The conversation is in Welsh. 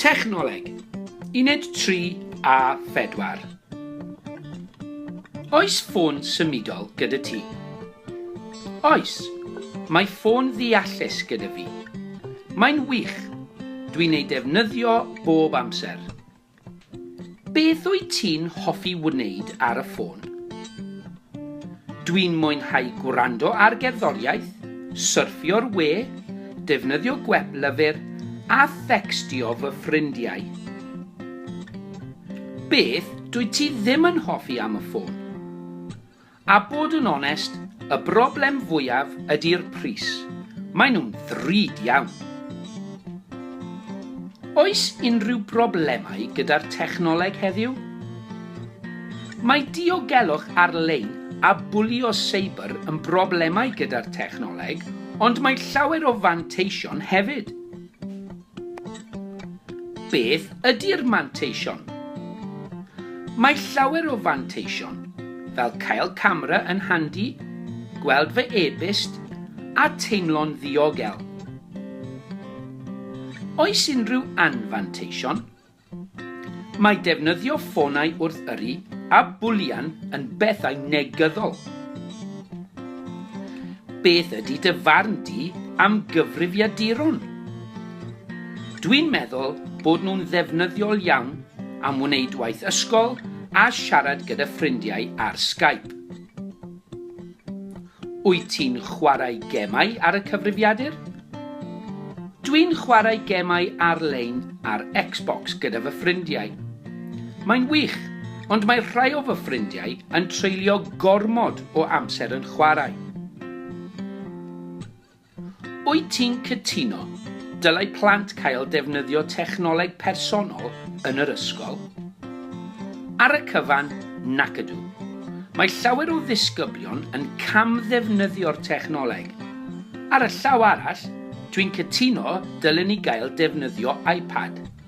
Technoleg, Uned 3 a 4. Oes ffôn symudol gyda ti? Oes, mae ffôn ddeallus gyda fi. Mae'n wych, dwi'n ei defnyddio bob amser. Beth wyt ti'n hoffi wneud ar y ffôn? Dwi'n mwynhau gwrando ar gerddoriaeth, syrffio'r we, defnyddio gwep lyfr a thecstio fy ffrindiau. Beth dwyt ti ddim yn hoffi am y ffôn? A bod yn onest, y broblem fwyaf ydi'r pris. Maen nhw'n ddrud iawn. Oes unrhyw broblemau gyda'r technoleg heddiw? Mae diogelwch ar-lein a bwlio seibr yn broblemau gyda'r technoleg, ond mae llawer o fanteision hefyd. Beth ydy'r manteision? Mae llawer o fanteision, fel cael camera yn handi, gweld fy e-byst, a teimlo'n ddiogel. Oes unrhyw anfanteision? Mae defnyddio ffonau wrth yrru a bwlian yn bethau negyddol. Beth ydy dy farn di am gyfrifiaduron? Dwi'n meddwl bod nhw'n ddefnyddiol iawn am wneud waith ysgol a siarad gyda ffrindiau ar Skype. Wyt ti'n chwarae gemau ar y cyfrifiadur? Dwi'n chwarae gemau ar-lein ar Xbox gyda fy ffrindiau. Mae'n wych, ond mae rhai o fy ffrindiau yn treulio gormod o amser yn chwarae. Wyt ti'n cytuno dylai plant cael defnyddio technoleg personol yn yr ysgol? Ar y cyfan, nac ydw. Mae llawer o ddisgyblion yn cam-ddefnyddio'r technoleg. Ar y llaw arall, dwi'n cytuno dylen ni gael defnyddio iPad.